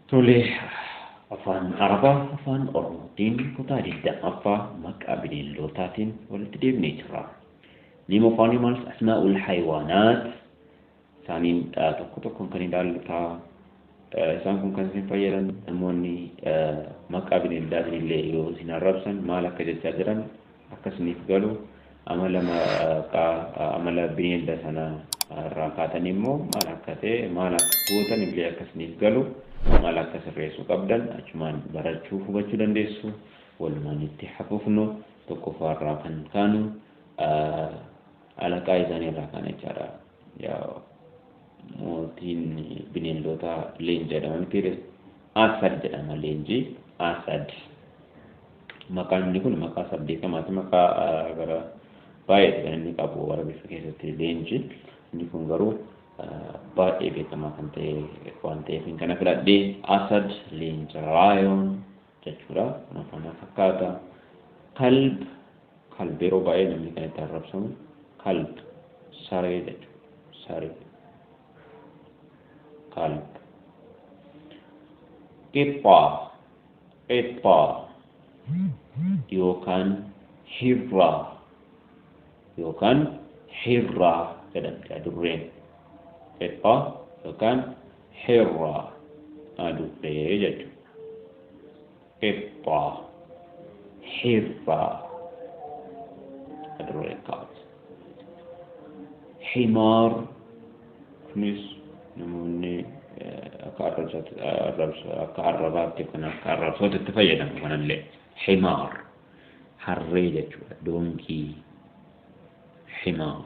Tole, Afaan Arabaa Afaan Oromootiin kutaa 20ffaa maqaa bineeldootaatiin walitti deebinee jirra. Name of Animals, Asmaa'ul Haywaanaat, isaaniin tokko tokkoon kan ilaallu ta'a. Isaan kun kan isin fayyadan namoonni maqaa bineeldaatiin illee yoo isin arrabsan maal akka jechaa jiran akka isiniif galu amala maqaa amala bineelda sana irraa kaatanii immoo maal akka ta'e maal akka gootan illee akka isiniif galu maal akka sirreessuu qabdan achumaan barachuu hubachuu dandeessu walumaan itti hafufnu tokkoffaa irraa kan kaanu alaqaa isaanii irraa kaana jechaadha. mootiin bineeldotaa leenca jedhama miti ree asad jedhama leenci asad maqaan inni kun maqaa isaa beekamaati maqaa gara baay'eeti kan inni qabu warabeessa keessatti leenci inni kun garuu baay'ee beekamaa kan ta'e waan ta'eef kana filadhee asad leenca raayoon jechuudha waan kana fakkaata kalb kalb yeroo baay'ee namni kan itti arrabsamu kalb saree jechuudha saree kalb qixxaa qixxaa yookaan hirraa yookaan hirraa jedhamti adurreen qixxaa yookaan Hirra, adurree jechuudha. Qixxaa, hirra, adurree kaat. Himaar, kunis namoonni eh, akka arrabsaatti- arrabsa- akka arrabaatti yookaan akka arrabsootti itti fayyadamu kanallee. Himaar, harree jechuudha. Donkii, himaar.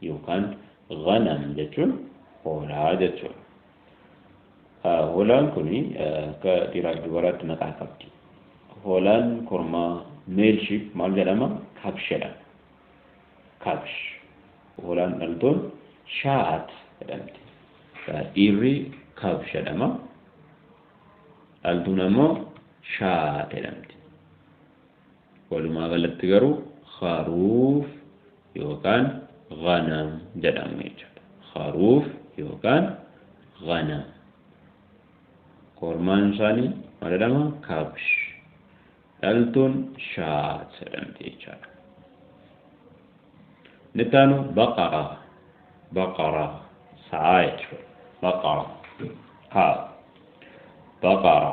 yookaan ghanam jechuun hoolaa jechuudha. Hoolaan kun akka dhiiraaf dubaraatti maqaa qabdi. Hoolaan kormaa male sheep maal jedhama? Kabsh jedhama. Kabsh. Hoolaan dhaltuun shaat jedhamti. Dhiirri kabsh jedhama. Dhaltuun ammoo shaat jedhamti. Walumaa galatti garuu kharuuf yookaan ghanam jedhamu jechuudha. Kharuuf yookaan ghanam. Kormaan isaanii maal jedhama? Kabsh. Dhaltuun shaat jedhamti jechaadha. Inni itti aanu baqara. Baqara. Sa'aa jechuudha. Baqara. Haa. Baqara.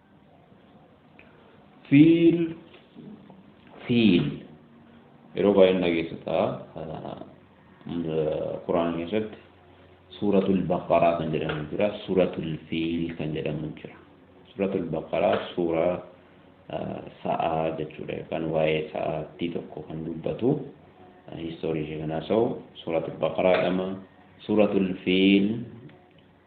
fiil fiil yeroo baay'een dhageessu ta'a quraana keessatti suuratul baqaraa kan jedhamu jira suuratul fiil kan jedhamu jira suuratul baqaraa suuraa sa'aa jechuudha yookaan waa'ee sa'aattii tokko kan dubbatu histoorii ishee kan haasa'u suuratul baqaraa jedhama suuratul fiil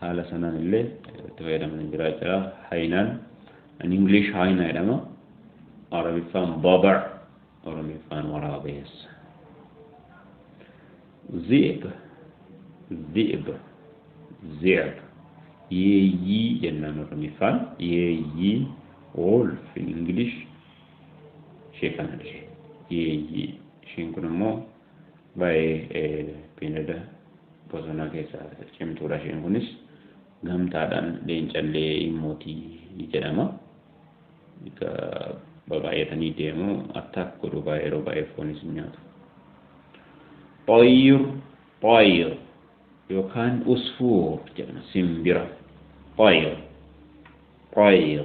haala sanaan illee itti fayyadaman hin jiraa jira haynaan an english haynaa jedhama arabiffaan baba oromiffaan waraabeessa zi'ib zi'ib zi'ib yeeyyii jennaan oromiffaan yeeyyii wolf in english ishee kana dhise yeeyyii isheen kun immoo Baay'ee beeylada bosonaa keessaa cimtuudha isheen kunis. Gamtaadhaan leencallee in mooti jedhama. Egaa babaay'atanii deemu attack godhu baay'ee yeroo baay'ee foonis hin nyaatu. Xayyir xayyir yookaan usfuur jedhama simbira. Xayyir xayyir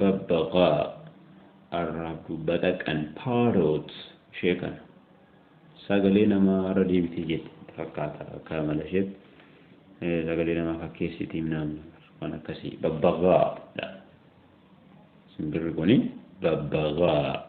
Babbaqaa, arraabdu, baxaqan, parrot, ishee kana. Sagalee namaa irra deebitee jette fakkaata akka amala isheetti. Sagalee namaa fakkeessiti himnaan waan akkasii babbaqaa dha. Simbirri kuni babbaqaa.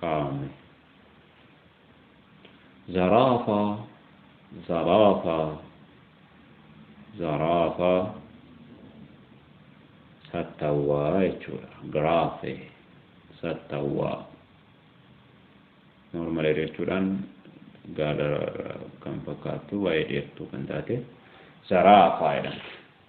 kaa'ame. Zaraafaa, zaraafaa, zaraafaa sattawwaa jechuudha. Giraafe sattawwaa. Normal area jechuudhaan gaala kan fakkaattu waa'ee dheertuu kan taate zaraafaa jedhamti.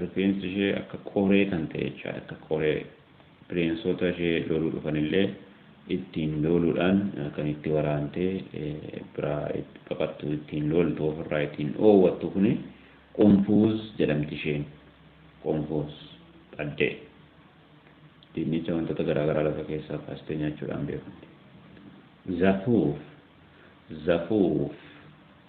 Rifeensi ishee akka qoree kan ta'e jechaadha. Akka qoree bineensota ishee looluu dhufanillee ittiin looluudhaan kan itti waraantee biraa itti baqattu ittiin looltu ofirraa ittiin dhoowwattu kuni qunfuuz jedhamti isheen. Qunfuuz dhaddee. Dinnicha wantoota garaagaraa lafa keessaa kaastee nyaachuudhaan beekamti. Zafuuf Zafuuf.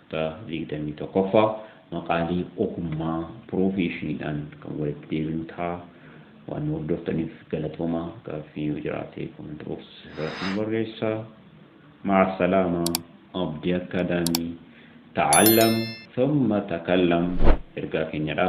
Kutaa 21ffaa maqaalee ogummaa piroofeeshiniidhaan kan walitti deebinu ta'a. Waan nu hordoftaniif galatoomaa. Gaaffii yoo jiraate comment box irratti nu barreessaa. Ma'a salaama. Abdi Academy. Ta'allam thumma takallam ergaa keenyadha.